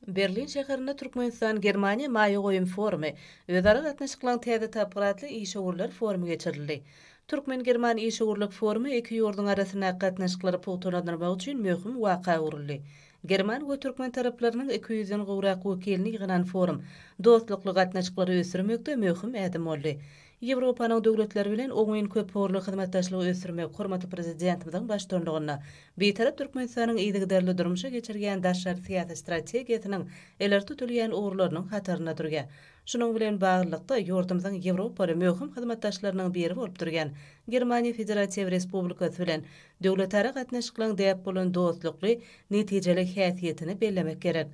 Berlin şäherinde Türkmenistan-Germaniýa maýa goýum forumy, özara gatnaşyklaryň täze tapgyry atly işewürler forumy geçirildi. Türkmen-german işewürlik forumy iki ýurduň arasyndaky gatnaşyklary pugtalandyrmak üçin möhüm waka öwrüldi. German we türkmen taraplarynyň iki ýüzden gowrak wekilini ýygnan forum dostlukly gatnaşyklary ösdürmekde möhüm ädim boldy. Ýewropanyň döwletleri bilen oňyn köpugurly hyzmatdaşlygy ösdürmek hormatly Prezidentimiziň baştutanlygynda Bitarap Türkmenistanyň yzygiderli durmuşa geçirýän daşary syýasy strategiýasynyň ileri tutulýan ugurlarynyň hatarynda durýar. Şunuň bilen baglylykda, ýurdumyzyň Ýewropaly möhüm hyzmatdaşlarynyň biri bolup durýan Germaniýa Federatiw Respublikasy bilen döwletara gatnaşyklaryň däp bolan dostlukly, netijeli häsiýetini bellemek gerek.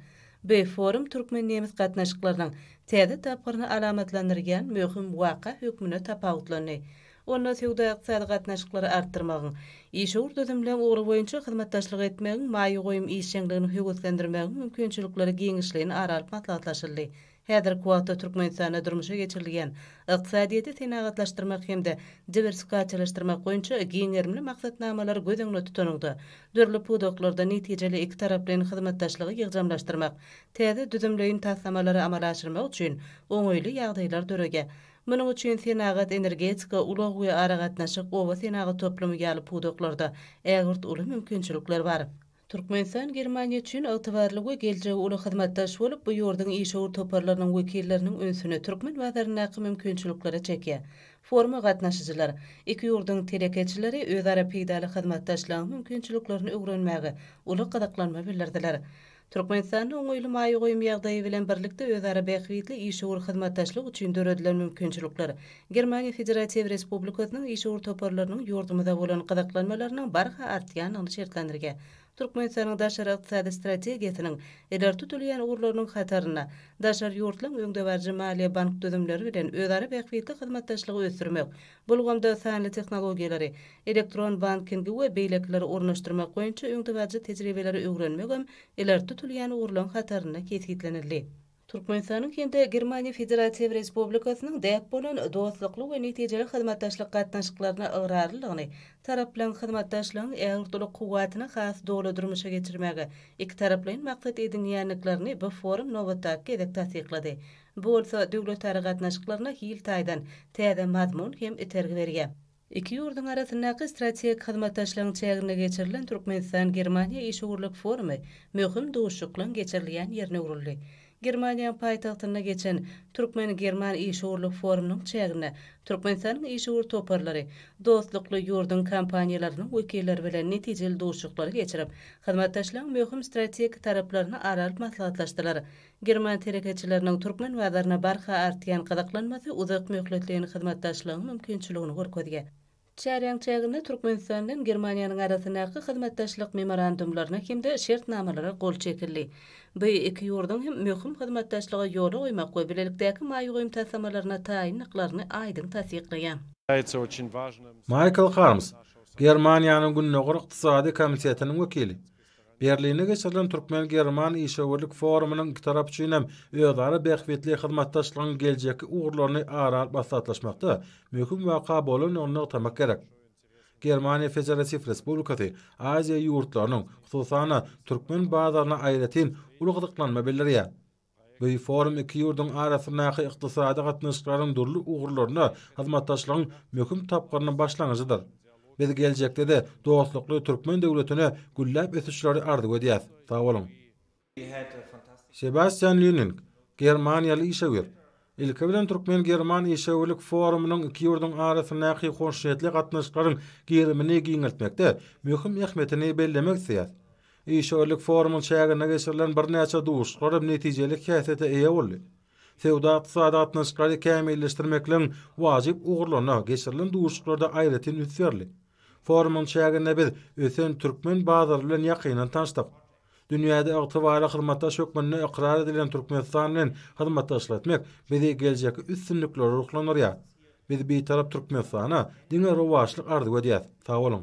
Bu forum türkmen-nemes gatnaşyklarynyň täze tapgyryny alamatlandyrýan möhüm waka hökmünde tapawutlandy. Onda söwda-ykdysady gatnaşyklary artdyrmagyň, işewür düzümleň ugry boýunça hyzmatdaşlyk etmegiň, maýa goýum işjeňligini höweslendirmegiň mümkinçilikleri giňişleýin ara alyp maslahatlaşyldy. Häzirki wagtda Türkmenistanda durmuşa geçirilýän ykdysadyýeti senagatlaşdyrmak hem-de diwersifikasiýalaşdyrmak boýunça giň gerimli maksatnamalary göz öňünde tutanyňda, dürli pudaklarda netijeli ikitaraplaýyn hyzmatdaşlygy ýygjamlaşdyrmak, täze düzümleýin taslamalary amala aşyrmak üçin oňaýly ýagdaýlar döredýär. Munuň üçin senagat, energetika, ulag we aragatnaşyk, oba senagaty toplumy ýaly pudaklarda ägirt uly mümkinçilikler bar. Türkmenistan Germaniýa üçin ygtybarly we geljegi uly hyzmatdaş bolup, bu ýurduň işewür toparlarynyň wekilleriniň ünsüni türkmen bazaryndaky mümkinçiliklere çekýär. Foruma gatnaşyjylar, iki ýurduň telekeçileri özara peýdaly hyzmatdaşlygyň mümkinçiliklerini öwrenmäge uly gyzyklanma bildirdiler. Türkmenistanda oňaýly maýa goýum ýagdaýy bilen birlikde özara bähbitli işewür hyzmatdaşlyk üçin döredilen mümkinçilikler Germaniýa Federatiw Respublikasynyň işewür toparlarynyň ýurdumyza bolan gyzyklanmalarynyň barha artýandygyny şertlendirge Türkmenistanyň daşary ykdysady strategiýasynyň ileri tutulýan ugurlarynyň hatarynda daşary ýurtlaryň öňdebaryjy maliýe-bank düzümleri bilen özara bähbitli hyzmatdaşlygy ösdürmek, bu ulgamda sanly tehnologiýalary, elektron bankingi we beýlekileri ornaşdyrmak boýunça öňdebaryjy tejribeleri öwrenmegem ileri tutulýan ugurlaryň hatarynda kesgitlenildi. Türkmenistanyň hem-de Germaniýa Federatiw Respublikasynyň däp bolan dostlukly we netijeli hyzmatdaşlyk gatnaşyklaryna ygrarlydygyny, taraplaryň hyzmatdaşlygyň ägirt-uly kuwwatyny has doly durmuşa geçirmäge ikitaraplaýyn maksat edinýändiklerini bu forum nobatdaky gezek tassyklady. Bu bolsa döwletara gatnaşyklaryna hil taýdan täze mazmun hem itergi berýär. Iki ýurduň arasyndaky strategik hyzmatdaşlygyň çäginde geçirilen Türkmenistan-Germaniýa işewürlik forumy möhüm duşuşyklaryň geçirilýän ýerine öwrüldi. Germaniýanyň paýtagtynda geçen Türkmen-german işewürlik forumynyň çäginde Türkmenistanyň işewür toparlary dostlukly ýurduň kompaniýalarynyň wekilleri bilen netijeli duşuşyklary geçirip, hyzmatdaşlygyň möhüm strategik taraplaryny ara alyp maslahatlaşdylar. German telekeçileriniň türkmen bazaryna barha artýan gyzyklanmasy uzak möhletleýin hyzmatdaşlygyň mümkinçiligini görkezýär. Çäräň çäginde Türkmenistan bilen Germaniýanyň arasyndaky hyzmatdaşlyk memorandumlaryna hem-de şertnamalara gol çekildi. Bu iki ýurduň hem möhüm hyzmatdaşlygy ýola goýmak we bilelikdäki maýa goýum taslamalaryna taýyndyklaryny aýdyň tassyklaýar. Maýkl Harms, Germaniýanyň Gündogar ykdysady komitetiniň wekili, Berlinde geçirilen türkmen-german işewürlik forumynyň iki tarap üçin hem özara bähbitli hyzmatdaşlygyň geljekki ugurlaryny ara alyp maslahatlaşmakda möhüm waka bolandygyny nygtamak gerek. Germaniýa Federatiw Respublikasy Aziýa ýurtlarynyň, hususan-da, türkmen bazaryna aýratyn uly gyzyklanma bildirýär. Beýik forum iki ýurduň arasyndaky ykdysady gatnaşyklaryň dürli ugurlarynda hyzmatdaşlygyň möhüm tapgyrynyň başlangyjydyr. Biz geljekde-de dostlukly türkmen döwletine gülläp ösüşleri arzuw edýäris. Sag boluň! Sebastian Lýuning, germaniýaly işewür, Ilki bilen türkmen-german işewürlik forumynyň iki ýurduň arasyndaky hoşniýetli gatnaşyklaryň gerimini giňeltmekde möhüm ähmiýetini bellemek isleýäris. Işewürlik forumyň çäginde geçirilen birnäçe duşuşyklaram netijeli häsiýete eýe boldy. Söwda-ykdysady gatnaşyklary kämilleşdirmekligiň wajyp ugurlaryna geçirilen duşuşyklarda aýratyn üns berildi. Forumyň çäginde biz ösen türkmen bazary bilen ýakyndan tanyşdyk. Dünýäde ygtybarly hyzmatdaş hökmünde ykrar edilen Türkmenistan bilen hyzmatdaşlyk etmek bizi geljekki üstünliklere ruhlandyrýar. Biz Bitarap Türkmenistana diňe rowaçlyk arzuw edýäs. Sag boluň!